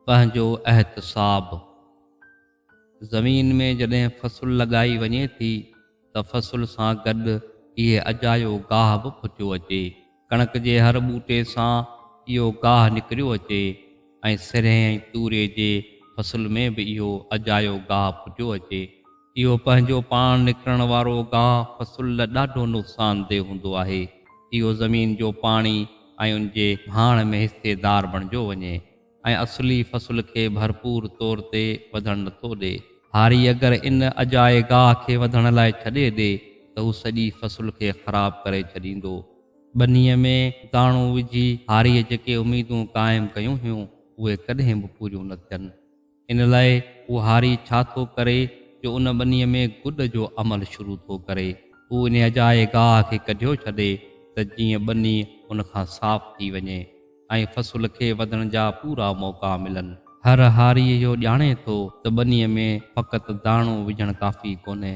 پنهنجو احتساب، زمين ۾ جڏهن فصل لڳائي وڃي ٿي ته فصل سان گڏ اهي اجايو گاهه به پھتيو اچي. ڪڻڪ جي هر ٻوٽي سان اهو گاهه نڪريو اچي ۽ سرهين ۽ توري جي فصل ۾ به اهو اجايو گاهه پھتيو اچي. اهو پنهنجو پاڻ نڪرڻ وارو گاهه فصل لا ڏاڍو نقصاندهه هوندو آهي. اهو زمين جو پاڻي ۽ ان جي ڀاڻ ۾ حصيدار بڻجيو وڃي ۽ اصلي فصل کي ڀرپور طور تي وڌڻ نٿو ڏي. هاري اگر ان اجائي گاهه کي وڌڻ لاء ڇڏي ڏي ته هو سڄي فصل کي خراب ڪري ڇڏيندو. ٻنيء ۾ داڻو وجهي هاريء جيڪي اميدون قائم ڪيون هيون، اهي ڪڏهن به پوريون نه ٿين. ان لاء هو هاري ڇا ٿو ڪري جو ان ٻنيء ۾ گڏ جو عمل شروع ٿو ڪري. هو ان اجائي گاهه کي ڪڍيو ڇڏي ته جيئن ٻني هن کان صاف ٿي وڃي ۽ فصل کي وڌڻ جا پورا موقعا ملن. هر هاري اهو ڄاڻي ٿو ته ٻنيء ۾ فقط داڻو وجهڻ ڪافي ڪونهي.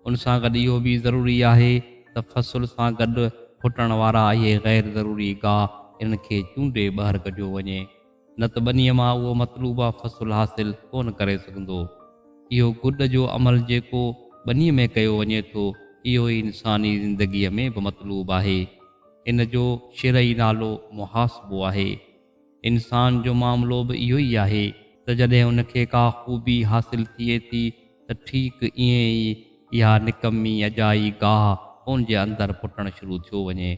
ان سان گڏ اهو به ضروري آهي ته فصل سان گڏ ڦٽڻ وارا اهي غير ضروري گاهه انهن کي چونڊي ٻاهر ڪڍيو وڃي. نه ته ٻنيء مان اهو مطلوبه فصل حاصل ڪونه ڪري سگهندو. اهو گڏ جو عمل جيڪو ٻنيء ۾ ڪيو وڃي ٿو، اهو ئي انساني زندگيء ۾ به مطلوب آهي. ان جو شرعي نالو محاسبو آهي. انسان جو معاملو به اهو ئي آهي ته جڏهن ان کي ڪا خوبي حاصل ٿئي ٿي ته ٺيڪ ائين ئي اها نڪمي اجائي گاهه ان جي اندر پٽڻ شروع ٿيو وڃي.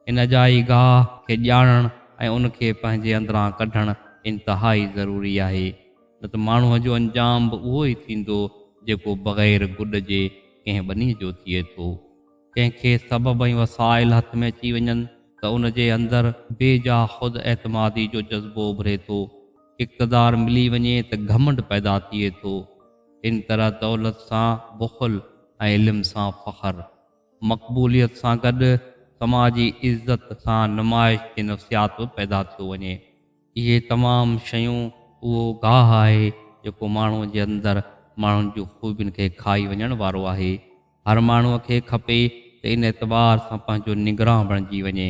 ان اجائي گاهه کي ڄاڻڻ ۽ ان کي پنهنجي اندران ڪڍڻ انتهائي ضروري آهي، نه ته ماڻهوء جو انجام به اهو ئي ٿيندو، جيڪو بغير گڏ جي ڪنهن ٻني جو ٿئي ٿو. ڪنهن کي سبب ۽ وسائل هٿ ۾ اچي وڃن ته ان جي اندر بي جا خود اعتمادي جو جذبو اڀري ٿو، اقتدار ملي وڃي ته گهمنڊ پيدا ٿئي ٿو، ان طرح دولت سان بخل ۽ علم سان فخر. مقبوليت سان گڏ سماجي عزت سان نمائش جي نفسيات به پيدا ٿيو وڃي. اهي تمام شيون اهو گاهه آهي جيڪو ماڻهوء جي اندر ماڻهن جون خوبين کي کائي وڃڻ وارو آهي. هر ماڻهوء کي کپي ته ان اعتبار سان پنهنجو نگران بڻجي وڃي.